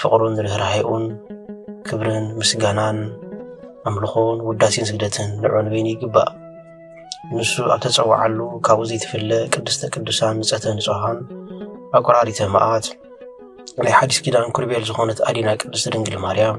ፍቕሩን ርህራሄኡን ክብርን ምስጋናን ኣምልኾን ውዳሴን ስግደትን ንዑ ንበይኑ ይግባእ ንሱ ኣብ ተጸዋዓሉ ካብኡ ዘይትፍለ ቅድስተ ቅዱሳን ንጸተ ንጹሃን ኣቆራሪተ መዓት ናይ ሓዲስ ኪዳን ኩርቤል ዝኾነት ኣዲና ቅድስቲ ድንግል ማርያም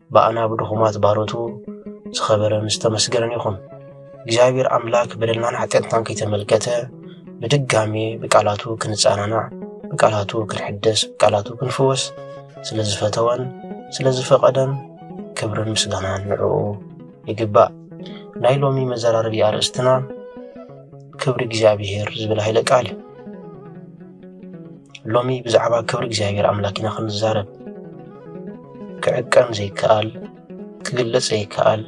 ብኣና ብድኹማት ባሮቱ ዝኸበረን ዝተመስገነን ይኹን። እግዚኣብሔር ኣምላክ በደልናን ሓጢኣትናን ከይተመልከተ ብድጋሜ ብቃላቱ ክንጸናናዕ፣ ብቃላቱ ክንሕደስ፣ ብቃላቱ ክንፍወስ ስለ ዝፈተወን ስለ ዝፈቐደን ክብርን ምስጋናን ንዕኡ ይግባእ። ናይ ሎሚ መዘራረቢ ኣርእስትና ክብሪ እግዚኣብሔር ዝብል ሃይለ ቃል እዩ። ሎሚ ብዛዕባ ክብሪ እግዚኣብሔር ኣምላክ ኢና ክንዛረብ ክዕቀን ዘይከኣል ክግለጽ ዘይከኣል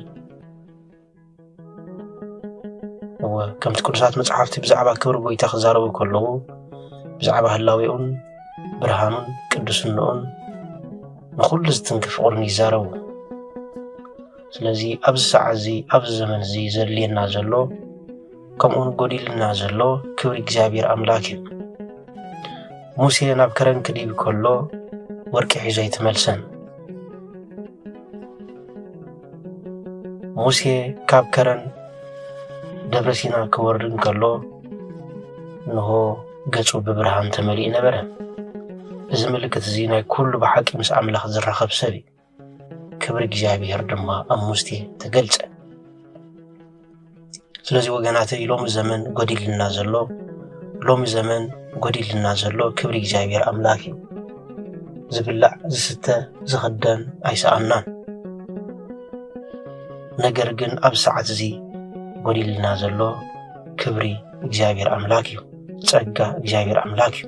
እወ ከምቲ ቅዱሳት መጽሓፍቲ ብዛዕባ ክብሪ ጎይታ ክዛረቡ ከለዉ ብዛዕባ ህላዌኡን ብርሃኑን ቅዱስንኡን ንኹሉ ዝትንክፍ ፍቕሩን ይዛረቡ ስለዚ ኣብዚ ሰዓት እዚ ኣብዚ ዘመን እዚ ዘድልየና ዘሎ ከምኡውን ጎዲሉና ዘሎ ክብሪ እግዚኣብሔር ኣምላክ እዩ ሙሴ ናብ ከረን ክድይብ ከሎ ወርቂ ሒዞ ኣይተመልሰን ሙሴ ካብ ከረን ደብረ ሲና ክወርድ እንከሎ እንሆ ገጹ ብብርሃን ተመሊኡ ነበረ እዚ ምልክት እዚ ናይ ኩሉ ብሓቂ ምስ ኣምላኽ ዝራኸብ ሰብ እዩ ክብሪ እግዚኣብሔር ድማ ኣብ ሙሴ ተገልጸ ስለዚ ወገናተይ ሎሚ ዘመን ጎዲልና ዘሎ ሎሚ ዘመን ጎዲልና ዘሎ ክብሪ እግዚኣብሔር ኣምላክ እዩ ዝብላዕ ዝስተ ዝኽደን ኣይሰኣናን ነገር ግን ኣብ ሰዓት እዚ ጎዲልና ዘሎ ክብሪ እግዚኣብሔር ኣምላክ እዩ ጸጋ እግዚኣብሔር ኣምላክ እዩ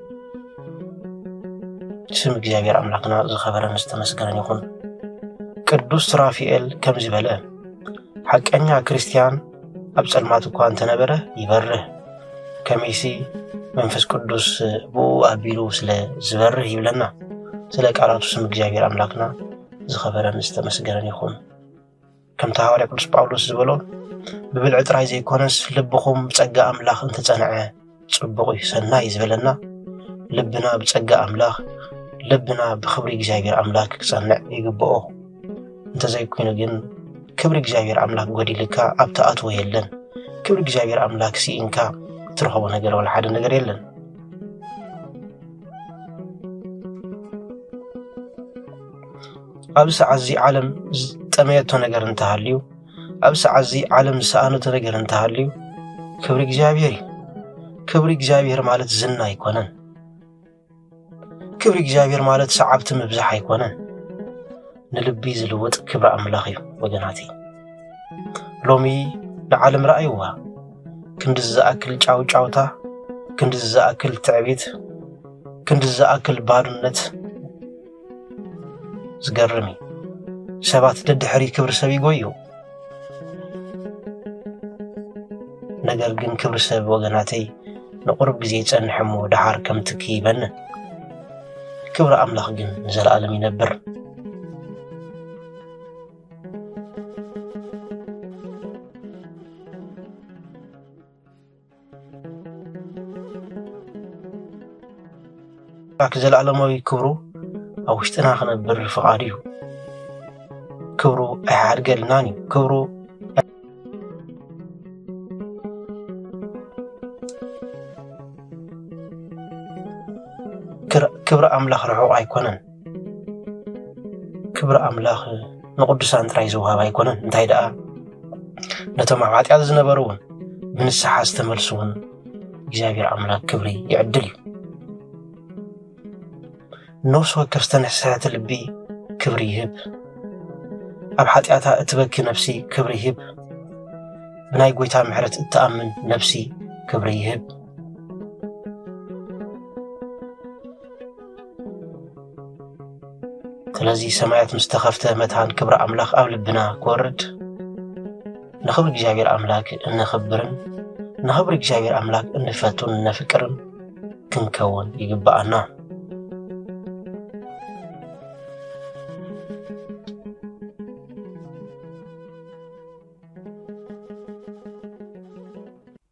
ስም እግዚኣብሔር ኣምላኽና ዝኸበረን ዝተመስገነን ይኹን። ቅዱስ ሱራፊኤል ከምዚ በለ፣ ሓቀኛ ክርስቲያን ኣብ ጸልማት እኳ እንተነበረ ይበርህ፣ ከመይሲ መንፈስ ቅዱስ ብኡ ኣቢሉ ስለ ዝበርህ ይብለና። ስለ ቃላቱ ስም እግዚኣብሔር ኣምላኽና ዝኸበረን ዝተመስገነን ይኹን። ከምቲ ሃዋርያ ቅዱስ ጳውሎስ ዝበሎ ብብልዒ ጥራይ ዘይኮነስ ልብኹም ብጸጋ ኣምላኽ እንተጸንዐ ጽቡቕ እዩ ሰናይ እዩ ዝበለና ልብና ብጸጋ ኣምላኽ ልብና ብክብሪ እግዚኣብሔር ኣምላክ ክጸንዕ ይግብኦ እንተዘይኮይኑ ግን ክብሪ እግዚኣብሔር ኣምላክ ጎዲልካ ኣብ ተኣትዎ የለን ክብሪ እግዚኣብሔር ኣምላክ ስኢንካ እትረኸቦ ነገር ወላ ሓደ ነገር የለን ኣብ ሰዓት እዚ ዓለም ዝጠመየቶ ነገር እንተሃልዩ ኣብ ሰዓት እዚ ዓለም ዝሰኣነቶ ነገር እንተሃልዩ ክብሪ እግዚኣብሔር እዩ ክብሪ እግዚኣብሔር ማለት ዝና ኣይኮነን ክብሪ እግዚኣብሔር ማለት ሰዓብቲ ምብዛሕ ኣይኮነን ንልቢ ዝልውጥ ክብሪ ኣምላኽ እዩ ወገናት ሎሚ ንዓለም ረኣይዋ ክንድዚ ዝኣክል ጫውጫውታ ክንድዚ ዝኣክል ትዕቢት ክንድዚ ዝኣክል ባርነት ዝገርም እዩ ሰባት ደድሕሪ ክብሪ ሰብ ይጎዩ ነገር ግን ክብሪ ሰብ ወገናተይ ንቑርብ ግዜ ይጸንሕ እሞ ደሓር ከም ትኪ ይበንን ክብሪ ኣምላኽ ግን ንዘለኣለም ይነብር ኣምላክ ዘለኣለማዊ ክብሩ ኣብ ውሽጥና ክነብር ፍቓዱ እዩ ክብሩ ኣይሓድገልናን እዩ ክብሩ ክብሪ ኣምላኽ ርሑቕ ኣይኮነን ክብሪ ኣምላኽ ንቕዱሳን ጥራይ ዝወሃብ ኣይኮነን እንታይ ደኣ ነቶም ኣብ ሓጢኣት ዝነበሩ እውን ብንስሓ ዝተመልሱ እውን እግዚኣብሔር ኣምላክ ክብሪ ይዕድል እዩ ነፍሲ ወከፍ ዝተነስሐቲ ልቢ ክብሪ ይህብ ኣብ ሓጢኣታ እትበኪ ነፍሲ ክብሪ ይህብ ብናይ ጎይታ ምሕረት እትኣምን ነፍሲ ክብሪ ይህብ ስለዚ ሰማያት ምስ ተኸፍተ መታን ክብሪ ኣምላኽ ኣብ ልብና ክወርድ ንኽብሪ እግዚኣብሔር ኣምላክ እነኽብርን ንኽብሪ እግዚኣብሔር ኣምላክ እንፈቱን እነፍቅርን ክንከውን ይግብኣና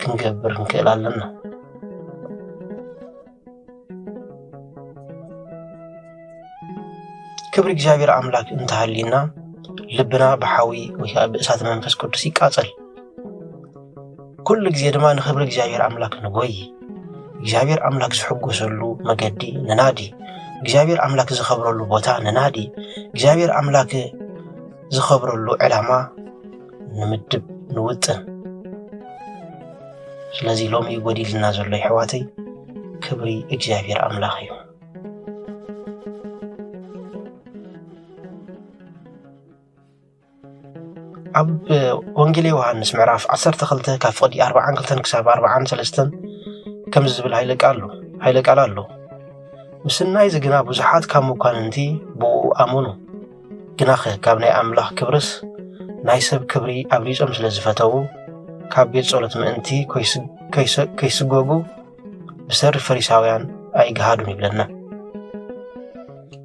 ክንገብር ክንክእል ኣለና ክብሪ እግዚኣብሔር ኣምላክ እንተሃልዩና ልብና ብሓዊ ወይ ከዓ ብእሳት መንፈስ ቅዱስ ይቃፀል ኩሉ ግዜ ድማ ንክብሪ እግዚኣብሔር ኣምላክ ንጎይ እግዚኣብሔር ኣምላክ ዝሕጎሰሉ መገዲ ንናዲ እግዚኣብሔር ኣምላክ ዝኸብረሉ ቦታ ንናዲ እግዚኣብሔር ኣምላክ ዝኸብረሉ ዕላማ ንምድብ ንውጥን ስለዚ ሎሚ ጎዲልና ዘሎ ይሕዋተይ ክብሪ እግዚኣብሔር ኣምላኽ እዩ ኣብ ወንጌል ዮሃንስ ምዕራፍ 12 ካብ ፍቕዲ 42 ክሳብ 43 ከምዚ ዝብል ሃይለ ቃል ኣሎ ሃይለ ቃል ኣሎ ምስናይ እዚ ግና ብዙሓት ካብ መኳንንቲ ብኡ ኣመኑ ግናኸ ካብ ናይ ኣምላኽ ክብርስ ናይ ሰብ ክብሪ ኣብሊጾም ስለ ዝፈተዉ ካብ ቤት ጸሎት ምእንቲ ከይስጎጉ ብሰሪ ፈሪሳውያን ኣይግሃዱን ይብለና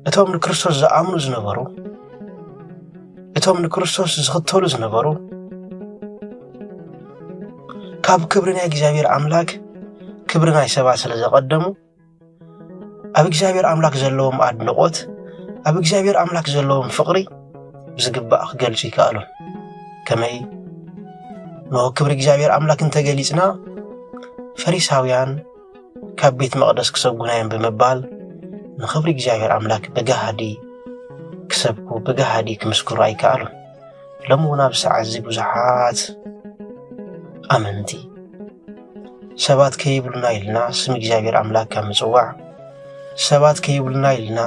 እቶም ንክርስቶስ ዝኣምኑ ዝነበሩ እቶም ንክርስቶስ ዝኽተሉ ዝነበሩ ካብ ክብሪ ናይ እግዚኣብሔር ኣምላክ ክብሪ ናይ ሰባት ስለ ዘቐደሙ ኣብ እግዚኣብሔር ኣምላክ ዘለዎም ኣድንቆት ኣብ እግዚኣብሔር ኣምላክ ዘለዎም ፍቅሪ ብዝግባእ ክገልጹ ይከኣሉን ከመይ ንሆ ክብሪ እግዚኣብሔር ኣምላክ እንተገሊጽና ፈሪሳውያን ካብ ቤት መቅደስ ክሰጉና እዮም ብምባል ንክብሪ እግዚኣብሔር ኣምላክ ብጋሃዲ ክሰብኩ ብጋሃዲ ክምስክሩ ኣይከኣሉን ሎሚ እውን ኣብ ሰዓት እዚ ብዙሓት ኣመንቲ ሰባት ከይብሉና ኢልና ስም እግዚኣብሔር ኣምላክ ካብ ምፅዋዕ ሰባት ከይብሉና ኢልና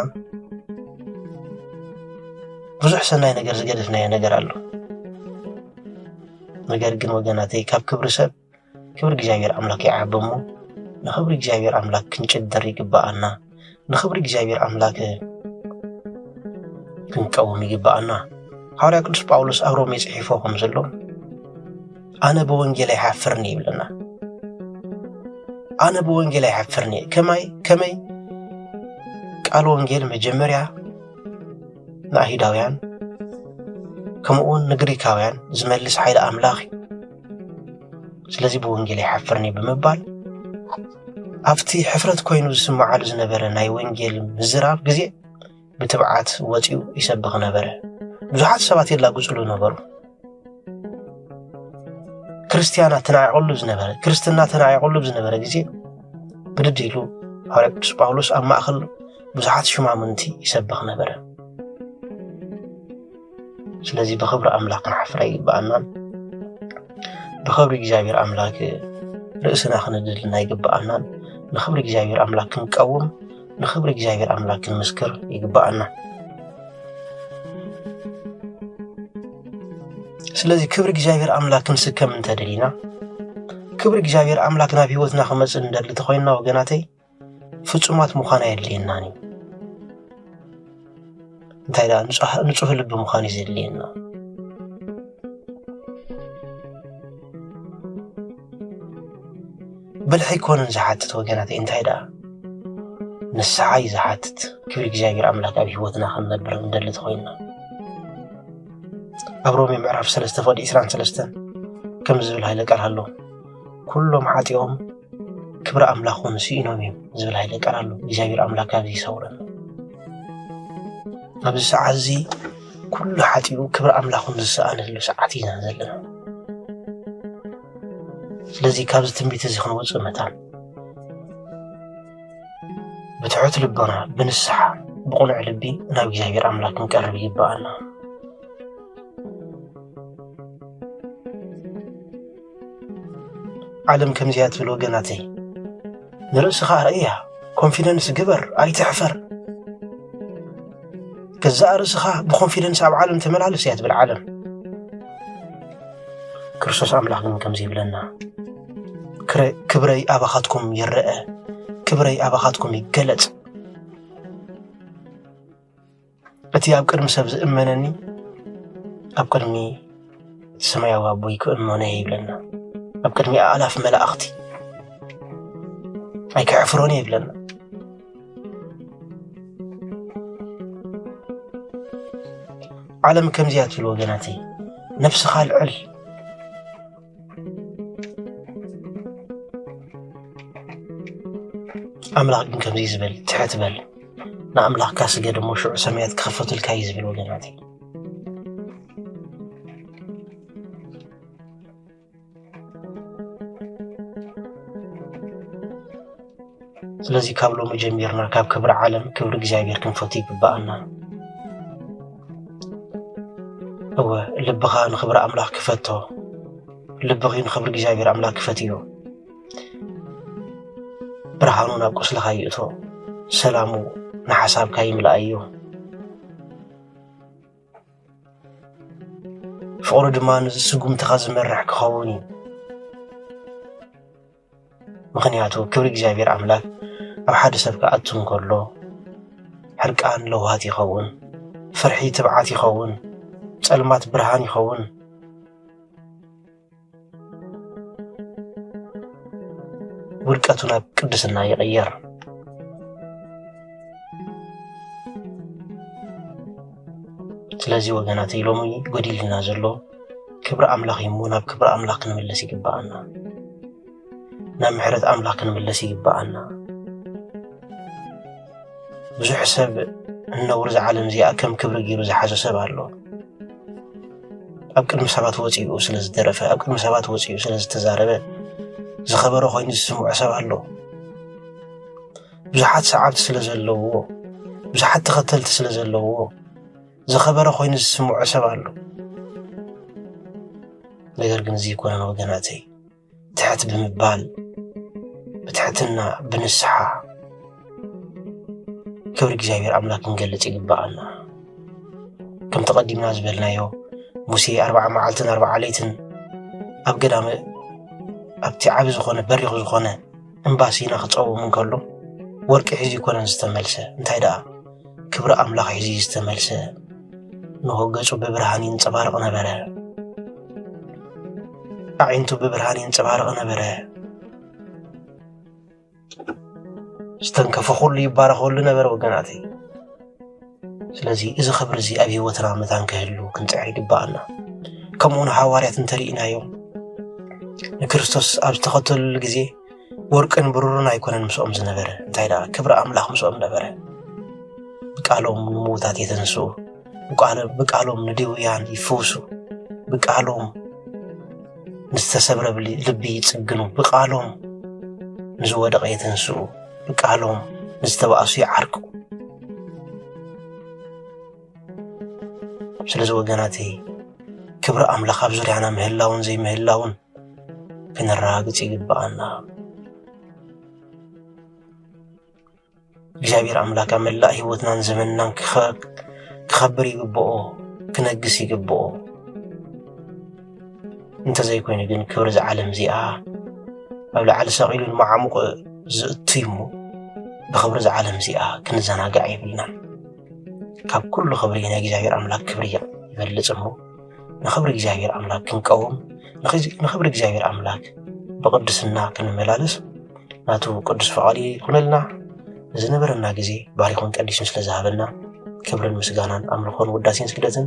ብዙሕ ሰናይ ነገር ዝገደፍናዮ ነገር ኣሎ ነገር ግን ወገናተይ ካብ ክብሪ ሰብ ክብሪ እግዚኣብሔር ኣምላክ ይዓቢ እሞ ንክብሪ እግዚኣብሔር ኣምላክ ክንጭድር ይግበኣና ንክብሪ እግዚኣብሔር ኣምላክ ክንቀውም ይግበኣና ሓዋርያ ቅዱስ ጳውሎስ ኣብ ሮሜ ጽሒፎ ከም ዘሎ ኣነ ብወንጌል ኣይሓፍርን ይብለና ኣነ ብወንጌል ኣይሓፍርን እየ ከማይ ከመይ ቃል ወንጌል መጀመርያ ንኣይሁዳውያን ከምኡውን ንግሪካውያን ዝመልስ ሓይሊ ኣምላኽ እዩ ስለዚ ብወንጌል ኣይሓፍርን እዩ ብምባል ኣብቲ ሕፍረት ኮይኑ ዝስምዓሉ ዝነበረ ናይ ወንጌል ምዝራብ ግዜ ብትብዓት ወፂኡ ይሰብኽ ነበረ ብዙሓት ሰባት የላግፅሉ ነበሩ ክርስትያና ተናዒቕሉ ዝነበረ ክርስትና ተናዒቕሉ ዝነበረ ግዜ ብድድ ኢሉ ሃዋርያ ቅዱስ ጳውሎስ ኣብ ማእኸል ብዙሓት ሽማምንቲ ይሰብኽ ነበረ ስለዚ ብክብሪ ኣምላኽ ክንሓፍር ኣይግብኣናን ብክብሪ እግዚኣብሔር ኣምላክ ርእስና ክንድልና ኣይግብኣናን ንክብሪ እግዚኣብሔር ኣምላክ ክንቀውም ንክብሪ እግዚኣብሔር ኣምላክ ክንምስክር ይግብኣና ስለዚ ክብሪ እግዚኣብሔር ኣምላክ ክንስከም እንተደሊና ክብሪ እግዚኣብሔር ኣምላክ ናብ ህይወትና ክመፅእ እንደሊ ተኮይንና ወገናተይ ፍጹማት ምዃን ኣየድልየናን እዩ። እንታይ ደኣ ንጹህ ልቢ ምዃን እዩ ዘድልየና። ብልሒ ኣይኮነን ዝሓትት ወገናተይ፣ እንታይ ደኣ ንስሓ እዩ ዝሓትት። ክብሪ እግዚኣብሔር ኣምላክ ኣብ ህይወትና ክንነብር እንደሊ ተኾይንና ኣብ ሮሜ ምዕራፍ ሰለስተ ፍቕዲ ዕስራን ሰለስተን ከምዚ ዝብል ሃይለ ቃል ኣሎ ኩሎም ሓጢኦም ክብሪ ኣምላኽ እውን ስኢኖም እዮም ዝብል ሃይለ ቃል ኣሎ እግዚኣብሔር ኣምላክ ካብዚ ይሰውረን ኣብዚ ሰዓት እዚ ኩሉ ሓጢኡ ክብሪ ኣምላኹን ዝሰኣነሉ ሰዓት ኢና ዘለና ስለዚ ካብዚ ትንቢት እዚ ክንወፅእ መታን ብትሑት ልቦና ብንስሓ ብቑኑዕ ልቢ ናብ እግዚኣብሔር ኣምላክ ክንቀርብ ይግባኣና ዓለም ከምዚያ ትብል ወገናተይ ንርእስኻ ኣርእያ ኮንፊደንስ ግበር ኣይትሕፈር ገዛእ ርእስኻ ብኮንፊደንስ ኣብ ዓለም ተመላለስ እያ ትብል ዓለም ክርስቶስ ኣምላኽ ግን ከምዚ ይብለና ክብረይ ኣባኻትኩም ይረአ ክብረይ ኣባኻትኩም ይገለጽ እቲ ኣብ ቅድሚ ሰብ ዝእመነኒ ኣብ ቅድሚ ሰማያዊ ኣቦይ ክእመኖ እየ ይብለና ኣብ ቅድሚ ኣእላፍ መላእኽቲ ኣይከሕፍሮን እየ ይብለና ዓለም ከምዚያ ትብል ወገናተይ ነፍስኻ ኣልዕል ኣምላኽ ግን ከምዚ ዝብል ትሕት በል ንኣምላኽካ ስገድ እሞ ሽዑ ሰማያት ክኸፈቱልካ እዩ ዝብል ወገናት ስለዚ ካብ ሎሚ ጀሚርና ካብ ክብሪ ዓለም ክብሪ እግዚኣብሔር ክንፈቱ ይግብኣና እወ ልብኻ ንኽብሪ ኣምላኽ ክፈቶ ልብኺ ንኽብሪ እግዚኣብሔር ኣምላኽ ክፈትዮ ብርሃኑ ናብ ቁስልኻ ይእቶ ሰላሙ ንሓሳብካ ይምልኣዮ ፍቕሩ ድማ ንስጉምትኻ ዝመርሕ ክኸውን እዩ ምኽንያቱ ክብሪ እግዚኣብሔር ኣምላክ ኣብ ሓደ ሰብ ክኣቱ እንከሎ ሕርቃን ለውሃት ይኸውን፣ ፍርሒ ትብዓት ይኸውን፣ ጸልማት ብርሃን ይኸውን። ውድቀቱ ናብ ቅድስና ይቕየር። ስለዚ ወገናት ኢሎም ጎዲልና ዘሎ ክብሪ ኣምላኽ እዩ እሞ ናብ ክብሪ ኣምላኽ ክንምለስ ይግብኣና ናብ ምሕረት ኣምላኽ ክንምለስ ይግብኣና ብዙሕ ሰብ እነውር እዛ ዓለም እዚኣ ከም ክብሪ ገይሩ ዝሓዞ ሰብ ኣሎ ኣብ ቅድሚ ሰባት ወፂኡ ስለ ዝደረፈ ኣብ ቅድሚ ሰባት ወፂኡ ስለ ዝተዛረበ ዝኸበረ ኮይኑ ዝስምዖ ሰብ ኣሎ ብዙሓት ሰዓብቲ ስለ ዘለውዎ ብዙሓት ተኸተልቲ ስለ ዘለውዎ ዝኸበረ ኮይኑ ዝስምዖ ሰብ ኣሎ ነገር ግን እዚ ይኮነን ወገናተይ ትሕት ብምባል ብትሕትና ብንስሓ ክብሪ እግዚኣብሔር ኣምላክ ክንገልጽ ይግባኣና ከም ተቐዲምና ዝበልናዮ ሙሴ ኣርባዓ መዓልትን ኣርባዓ ለይትን ኣብ ገዳመ ኣብቲ ዓቢ ዝኾነ በሪኽ ዝኾነ እምባሲ ኢና ክጸውም እንከሎ ወርቂ ሒዙ ይኮነን ዝተመልሰ እንታይ ደኣ ክብሪ ኣምላኽ ሒዙ ዝተመልሰ ንሆ ገጹ ብብርሃን ይንጸባርቕ ነበረ ኣዒንቱ ብብርሃን ይንጸባርቕ ነበረ ዝተንከፈ ኩሉ ይባረኸሉ ነበረ ወገናተይ ስለዚ እዚ ኽብሪ እዚ ኣብ ህይወትና መታን ክህሉ ክንጽዕር ይግብኣና ከምኡ ንሓዋርያት እንተርኢናዮም ንክርስቶስ ኣብ ዝተኸተልሉ ግዜ ወርቅን ብሩርን ኣይኮነን ምስኦም ዝነበረ እንታይ ደኣ ክብሪ ኣምላኽ ምስኦም ነበረ ብቃሎም ንምዉታት የተንስኡ ብቃሎም ንድውያን ይፍውሱ ብቃሎም ንዝተሰብረ ልቢ ይጽግኑ ብቃሎም ንዝወደቐ የተንስኡ ንቃሎም ንዝተባእሱ ይዓርቁ ስለዚ ወገናተይ ክብሪ ኣምላኽ ኣብ ዙርያና ምህላውን ዘይምህላውን ክንረጋግጽ ይግብኣና እግዚኣብሔር ኣምላክ ኣብ መላእ ህይወትናን ዘመንናን ክኸ- ክኸብር ይግብኦ ክነግስ ይግብኦ እንተዘይኮይኑ ግን ክብሪ እዛ ዓለም እዚኣ ኣብ ላዕሊ ሰቒሉ ንመዓሙቕ ዝእቱ እዩ እሞ ብኽብሪ እዛ ዓለም እዚኣ ክንዘናጋዕ የብልናን ካብ ኩሉ ክብሪ ናይ እግዚኣብሔር ኣምላክ ክብሪ ይበልፅ እሞ ንኽብሪ እግዚኣብሔር ኣምላክ ክንቀውም ንኽብሪ እግዚኣብሔር ኣምላክ ብቕድስና ክንመላለስ ናቱ ቅዱስ ፍቓዱ ይኹነልና ዝነበረና ግዜ ባሪኹን ቀዲሱን ስለ ዝሃበና ክብርን ምስጋናን ኣምልኾን ውዳሴን ስግደትን